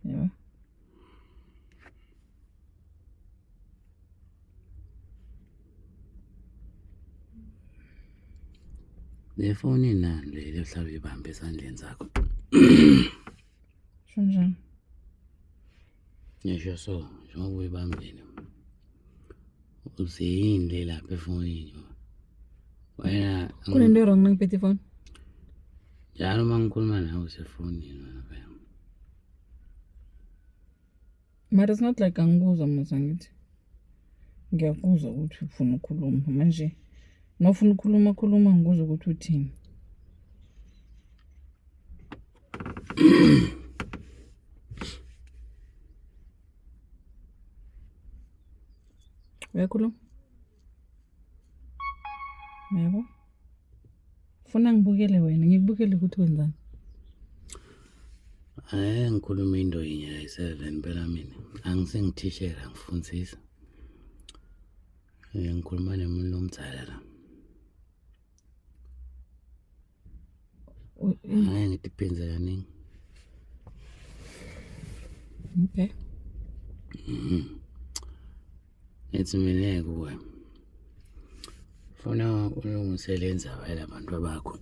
Yeah. le foni nani le yohlala uyibambe esandleni sakho Shonjani? Ngisho so njengoba uyibambile useyinde lapha efonini wena kunento erong nangiphethe ifoni njalo uma ngikhuluma nawe usefonini wena phela mara it's not like angikuzwa musa ngithi ngiyakuzwa ukuthi ufuna ukhuluma manje nofuna ukhuluma khuluma ngikuzwa ukuthi uthini Uyakhuluma? Yebo. Funa ngibukele wena, ngikubukele ukuthi wenzani. Eh ngikhuluma into yinye la 7 phela mina. Angisengithishela ngifundisa. Eh ngikhuluma nemuntu omdala la. ngeke ngidiphenze kaningi okay mm-hmm. ngithi mina kuwe funa ulungisele inzaba yalabantu abakho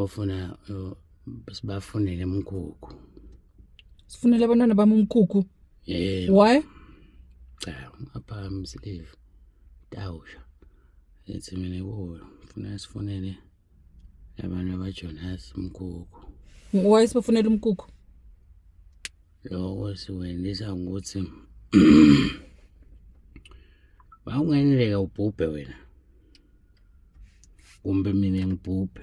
ofuna sibafunele umkhukhu sifunele abantwana bami umkhukhu yeah. why cha ngaphambi silive tawusha Ngithi mina kuwe ngifuna sifonele labantu abaJonas umkhukhu. Why sibafunela umkhukhu? Lokho siwendisa ngokuthi bawungeneleka ubhubhe wena kumbe mina ngibhubhe.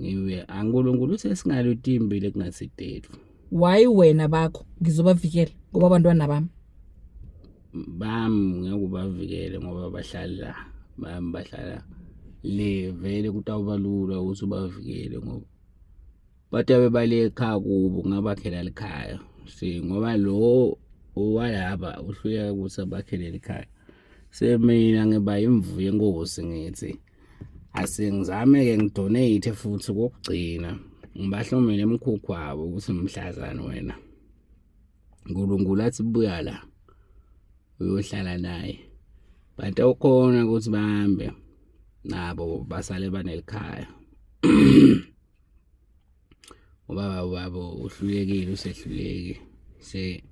ngiwe ankulunkulu usesingayo timbi lekungasideli wayi wena bakho ngizobavikela ngoba abantwana bami bami ngeke ubavikele ngoba bahlala bami bahlala le vele kutawuba lula ukuthi ubavikele ngoba bathi abebale ekhaya kubo ngabakhela likhaya si ngoba lo owalapha uhluleka ukuthi abakhele likhaya semina ngiba imvu yenkosi ngithi asengizame-ke ngidonate futhi kokugcina ngibahlomele emkhukhu wabo ukuthi mhlazane wena nkulunkulu athi buya la uyohlala naye but awukhona ukuthi bahambe nabo basale banelikhaya ubaba wabo uhlulekile usehluleki se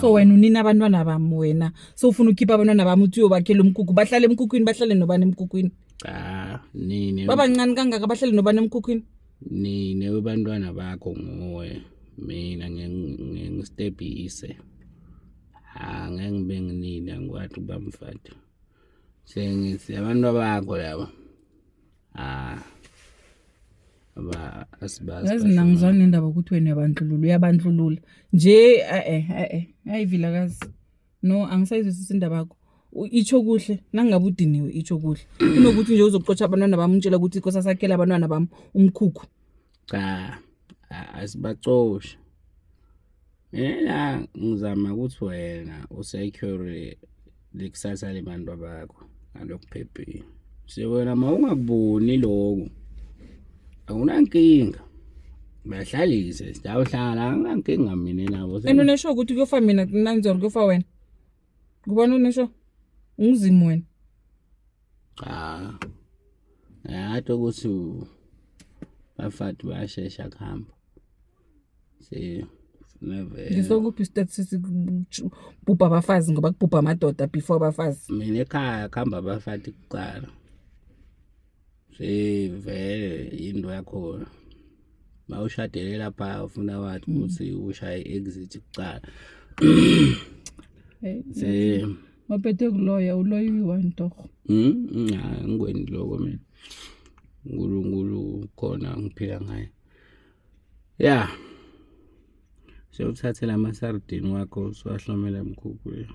so wena unini abantwana bam wena so ufuna ukhipha abantwana bam uthi uyobakhela umkukhu bahlale emkhukhwini bahlale nobani emkhukhwini cha nini babancane kangaka bahlale nobani emkhukhwini nini abantwana bakho nguwe mina ngistebhise angeke ngibe nginini angikwathi uba mfati sengithi abantu abakho laba ah aba asibazi yazi mina ngizwana nendaba ukuthi wena uyabandlulula uyabandlulula nje eh eh hayi vilakazi no angisayizwisisa indaba yakho U- itsho kuhle nangingabe udiniwe itsho kuhle kunokuthi nje uzokuxotsha abantwana bami ungitshela ukuthi kosasakhela abantwana bami umkhukhu cha asibacoshe mina ngizama ukuthi wena usecure lekusasa lebantu bakho ngalokuphephile sewena ma ungakuboni loku awunankinga bahlalise sitawuhlala anginankinga mina nabo and unesho ukuthi kuyofa mina kunanzor kuyofa wena Ngubani onesho? Unguzimu wena. Cha. Yathi ukuthi bafati bayashesha kuhamba. Se never. Ngisokuphi statistics kubhubha abafazi ngoba kubhubha amadoda before abafazi. Mina ekhaya kuhamba abafati kuqala. sivele yinto yakhona mawushadele lapha ufuna wathi mm. ukuthi ushaye exit kuqala se maphethe kuloya uloyiwa ntorho mm ngikweni lokho mina uNkulunkulu khona ngiphila ngaye ya sewuthathela amasardini wakho siwahlomela emkhukhwini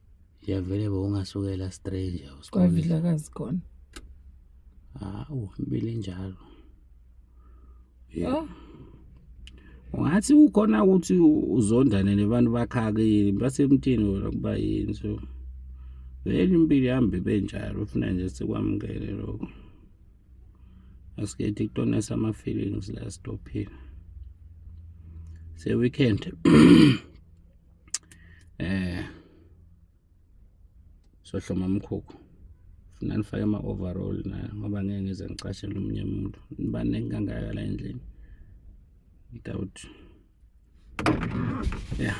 Yavele bowungasukela stranger uSkhona. kwavilakazi khona Hawu, impilo enjalo. oh Ungathi ukhona ukuthi uzondane nebantu bakhakile, basemthini wena kuba yini so. Vele impilo ihambe benjalo ufuna nje sikwamukele lokho. Asikethi kutonesa ama feelings la stophile. Se weekend. eh sohloma umkhukhu funa nifake ama overall na ngoba ngeke ngize ngicashe lomunye umuntu nibaningi kangaka la endlini without yeah